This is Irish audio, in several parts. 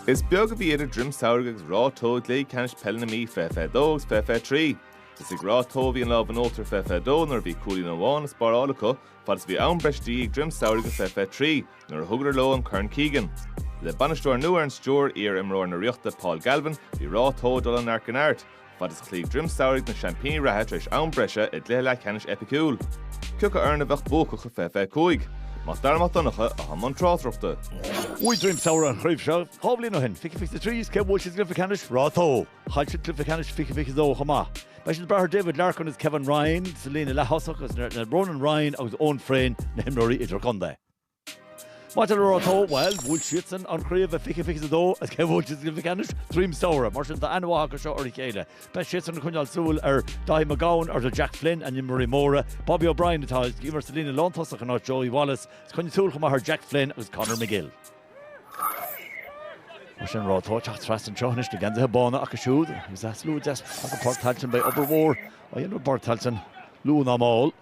Is beag a bhí idir Druim Samhraidh agus Ráth Tó i gcluichí ceannais peile na Mí, 2022 agus 2023. Is ag Ráth Tó a bhí an lámh in uachtar i 2022 nuair a bhí cúilín amháin le spáráil acu fad is a bhí am breise de dhíth ag Druim Samhraidh i 2023 nuair a thugadar leo an Corn Keegan. Le bainisteoir nua ar an stiúir, iar-imreoir na Ríochta Paul Galvin, bhí Ráth Tó ag dul ó neart go neart, fad is a chloígh Droim Samhraidh na seaimpíní reatha tar éis am breise i gcluiche leathcheannais eipiciúil, cé acu foireann a bheadh buacach i fiche fiche cúig? Mac Dara Mac Donncha atá i mbun tráchtaireachta. Bhuaigh Droim Samhraidh an chraobh seo dhá bhliain ó shin, fiche fiche a trí, is cé a bhuail siad sa gcluiche ceannais? Ráth Tó! Chaill siad cluiche ceannais fiche fiche a dó chomh maith. Beidh leithéidí David Larkin agus Kevin Ryan sa líne leath-thosach agus is iad Ronan Ryan agus Eoghan Frayne na himreoirí idir-chontae. Maidir le Ráth Tó, bhuel, bhuaigh siadsan an chraobh i fiche fiche a dó, agus cé a bhuail siad sa gcluiche ceannais? Droim Samhraidh. Mar sin, tá aithne mhaith acu seo ar a chéile. Beidh siadsan ag coinneáil súil ar Daithí Mac Gabhann, ar Jack Flynn, a n-imreoirí móra. Bobby O'Brien atá ag imirt sa líne lántosach in áit Joey Wallace, agus coinnigh súil chomh maith ar Jack Flynn agus Conor McGill. Mar sin, Ráth Tó ag teacht trasna anseo anois, na geansaithe bána acu siúd, agus slua deas i bPáirc Tailteann beidh obair mhór á dhéanamh i bPáirc Tailteann luath ná mall.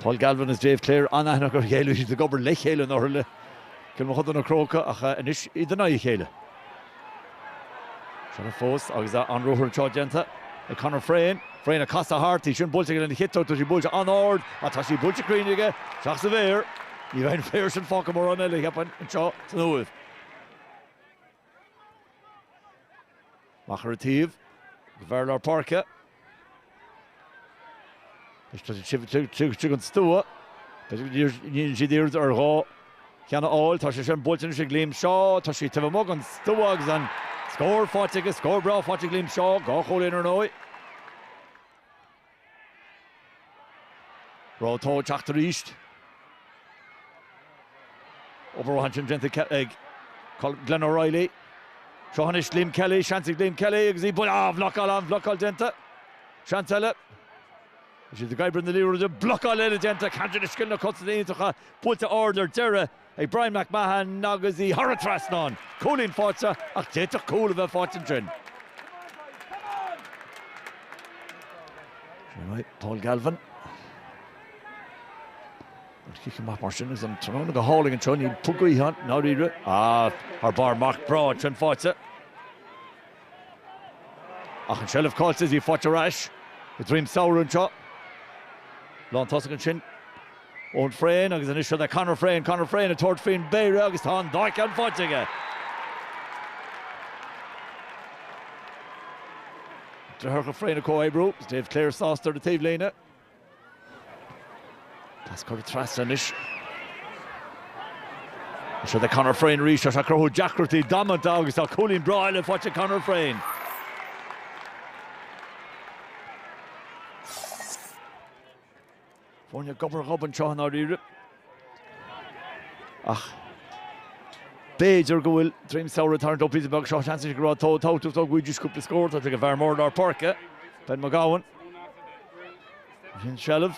Paul Galvin is Dave Clare an-aithne acu ar a chéile. Bhí siad ag obair le chéile ar ndóigh le Cill Mochuda na Crócaigh ach anois iad in aghaidh a chéile. Seilbh fós agus an ruathar anseo déanta ag Conor Frayne. Frayne ag casadh thart. Í sin buailte aige lena chiotóg. Tá sí buailte an-ard ach tá sí buailte cruinn aige. Isteach sa bpéire. Ní bheidh an péire sin fágtha mórán eile, cheapfainn, anseo san Uaimh. Amach ar an taobh go fear lár páirce. Is tá siad taobh amuigh den stua. Tá siad ag iarraidh dhá cheann a fháil. Tá sé sin buailte anois ag Liam Shaw. Tá sí taobh amuigh den stua agus an scór faighte aige. Scór breá faighte ag Liam Shaw. Dhá chúilín ar ndóigh. Ráth Tó ag teacht arís? Obair mhaith ansin déanta ag Glen O'Reilly. Seo anois Liam Kelly, seans ag Liam Kelly agus í buailte. An-bhlocáil, an-bhlocáil déanta. Seans eile. Is iad ag oibriú na liathróide, blocáil eile déanta. Ceann de na scileanna cosanta iontacha, buailte ard ar deireadh. ag Bryan McMahon agus í thar an trasnán. Cúilín faighte ach d'fhéadfadh cúl a bheith faighte ansin. Sin é Paul Galvin. An chic amach mar sin agus an tráthnóna go hálainn anseo, níl puc gaoithe ann, ndáiríre, ach thar barr marc breá ansin faighte. Ach an seilbh caillte is í faighte ar ais ag Droim Samhraidh anseo. Lántosach ansin Eoghan Frayne agus anois seo é Conor Frayne, Conor Frayne ag tabhairt faoin bpéire agus tá an dá cheann faighte aige. Deartháireacha Frayne ag comhoibriú agus Dave Clare sásta ar an taobhlíne. Pas curtha trasna anois. Seo é Conor Frayne arís atá ag cruthú deacrachtaí damanta agus tá cúilín breá eile faighte ag Conor Frayne. Foirne gob ar ghob anseo i ndáiríre. Ach b'fhéidir go bhfuil Droim Samhraidh ag tarraingt leo píosa beag. Seo seans anois ag Ráth Tó go bhfaighidís cúpla scór tá sí ag an bhfear mór i lár páirce, Ben McGowan. Sin seilbh.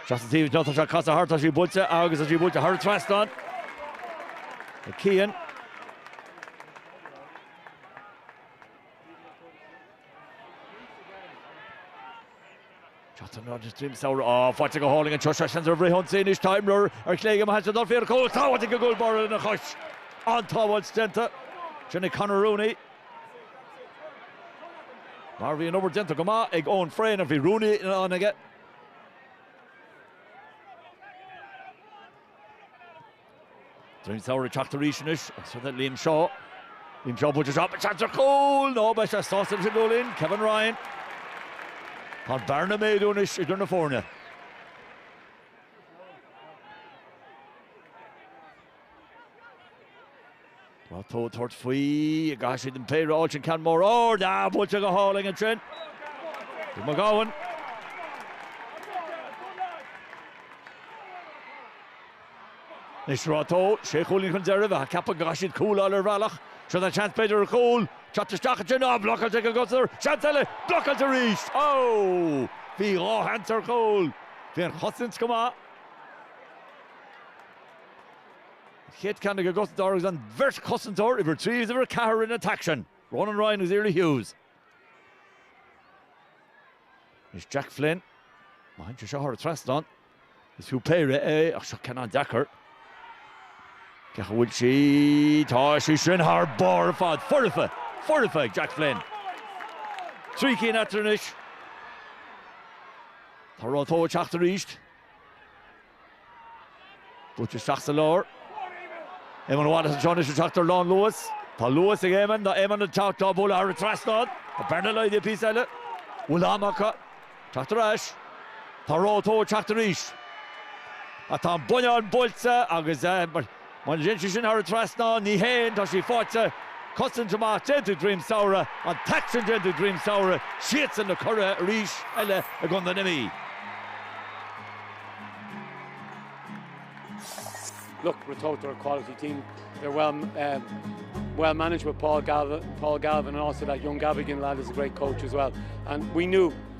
Seachas an taobh seo tá sé ag casadh thart tá sí buailte agus tá sí buailte thar an trasnán. Ag Cian. Cathain ná is Droim Samhraidh á, faighte go hálainn anseo, seans ar bhris-ionsaí anois tá imreoir ar chlé aige má bhíonn sé ag dul faoina chúl, sábháilte ag an gcúl báire lena chois. An-tsábháilt déanta. Sin é Conor Rooney. Mar bhí an obair déanta go maith ag Eoghan Frayne ach bhí Rooney in ann aige. Droim Samhraidh ag teacht arís anois agus rud eile, Liam Shaw. Liam Shaw buailte isteach, beidh seans ar chúl nó beidh sé sásta leis an gcúilín, Kevin Ryan. Tá an bhearna ag méadú anois idir na foirne. Ráth Tó ag tabhairt faoi an gcaithfidh siad an péire a fháilt an ceann mór ard á buailte go hálainn ansin ag McGowan. Anois Ráth Tó sé chúilín chun deiridh bheifeá ag ceapadh go gcaithfidh siad cúl a fháil ar bhealach. Seo tá seans b'fhéidir ar chúl. Teacht isteach ansin. Á blocáilte ag an gcosantóir. Seans eile. Blocáilte arís. Ó! Bhí dhá sheans ar chúl. Bhí an chosaint go maith. Kate Canning agat, dar agus an bheirt chosantóir uimhir a trí agus uimhir a ceathair in an t-aicsean, Ronan Ryan agus Iarla Hughes. Anois Jack Flynn, má théann sé seo thar an trasnán, is fiú péire é ach seo ceann an-deacair. Ach an bhfuil sí, tá sí sin thar barr ar fad. Foirfe, foirfe ag Jack Flynn. Trí cinn eatarthu anois. Tá Ráth Tó ag teacht arís. Buailte isteach sa lár. Éamonn Wallace anseo anois ag teacht ar lánluas. Tá luas ag Éamonn. Tá Éamonn ag teacht á bualadh thar an trasnán. Tá an bhearna laghdaithe píosa eile. Bhfuil am acu teacht ar ais. Tá Ráth Tó ag teacht arís. Ach tá an bonnán buailte agus. Má théann sé sin thar an trasnán, ní théann, tá sé fáite. Cosaint mhaith déanta ag Droim Samhraidh, an t-aicsean déanta ag Droim Samhraidh, siadsan na curaidh arís eile i gContae na Mí. Look, Ratoath, they're a quality team. They're well um, well managed with Paul Galvin, Paul Galvin, and also that young Gavigan lad is a great coach as well. And we knew